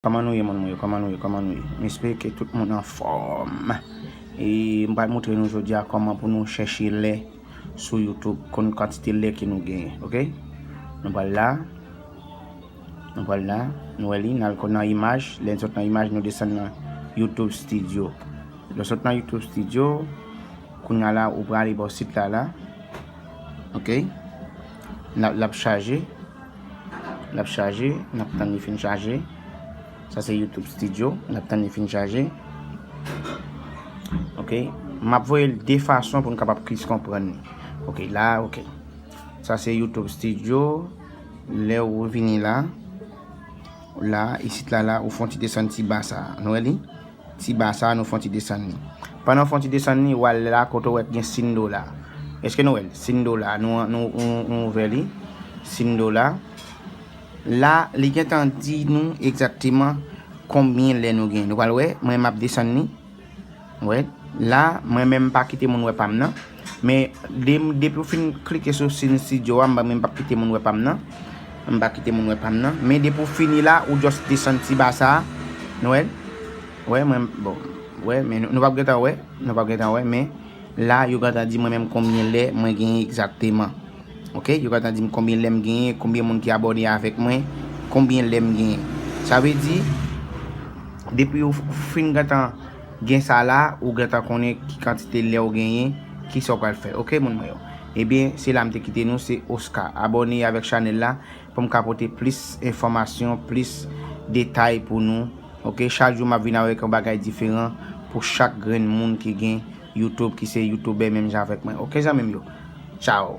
Kòman nou ye moun mwen yo kòman nou ye kòman nou ye m espere ke tout moun anfòm e m pral moutre nou jodi a kòman pou nou chèche lè sou YouTube konn kantite lè ke nou genyen ok nou pral la nou pral la nou wè li n al konn nan imaj lè n sot nan imaj nou desann nan YouTube studio lè w sot nan YouTube studio kounya la ou prale bò sit la la ok lap chaje. Lap chaje, nap tann li fin chaje. Sa se YouTube studio, nap tann li fin chaje. Ok, map voyel de fason pou nou kapab plis konprann li. Ok la, ok. Sa se YouTube studio, lè ou vini la, la, isit la la, ou fon ti desann ti ba sa. Nou wè li? Ti ba sa a nou fon ti desann li. Pandan w fon ti desann li, wa l la kote w wè k gen sin do la. Eske nou wè l? Sin do la. Nou nou ouvè li. Sin do la. La, li gen tan di nou egzakteman konbyen lè nou gen. Nou pral wè, mwen m ap desann li. Wè? La, mwen menm m pa kite moun wè pa m nan. Men depi ou fin klike sou sin studio a, mwen pap kite moun wè pam nan, mwen pa kite moun wè pam nan, men depi ou fini la ou just desann ti ba sa, nou wèl, wè mwen bon, wè men nou pap gentan wè, nou pap gentan wè men la yo gentan di mwen menm konbyen lè mwen genyen egzakteman, ok yo gentan dim konbyen lèm genyen, konbyen moun ki abòne avèk mwen, konbyen lèm genyen, sa vle di depi ou fin gentan. Gen sa la ou gentan konnen ki kantite lè ou genyen kisa ou pral fè ok moun mwen yo ebyen se la m te kite nou se Oscar abòne avèk chanèl la pou m ka pote plis enfòmasyon plis detay pou nou ok chak jou map vin avèk yon bagay diferan pou chak grenn moun ki gen YouTube ki se youtubè menm jan avèk mwen ok zanmim yo tchaw.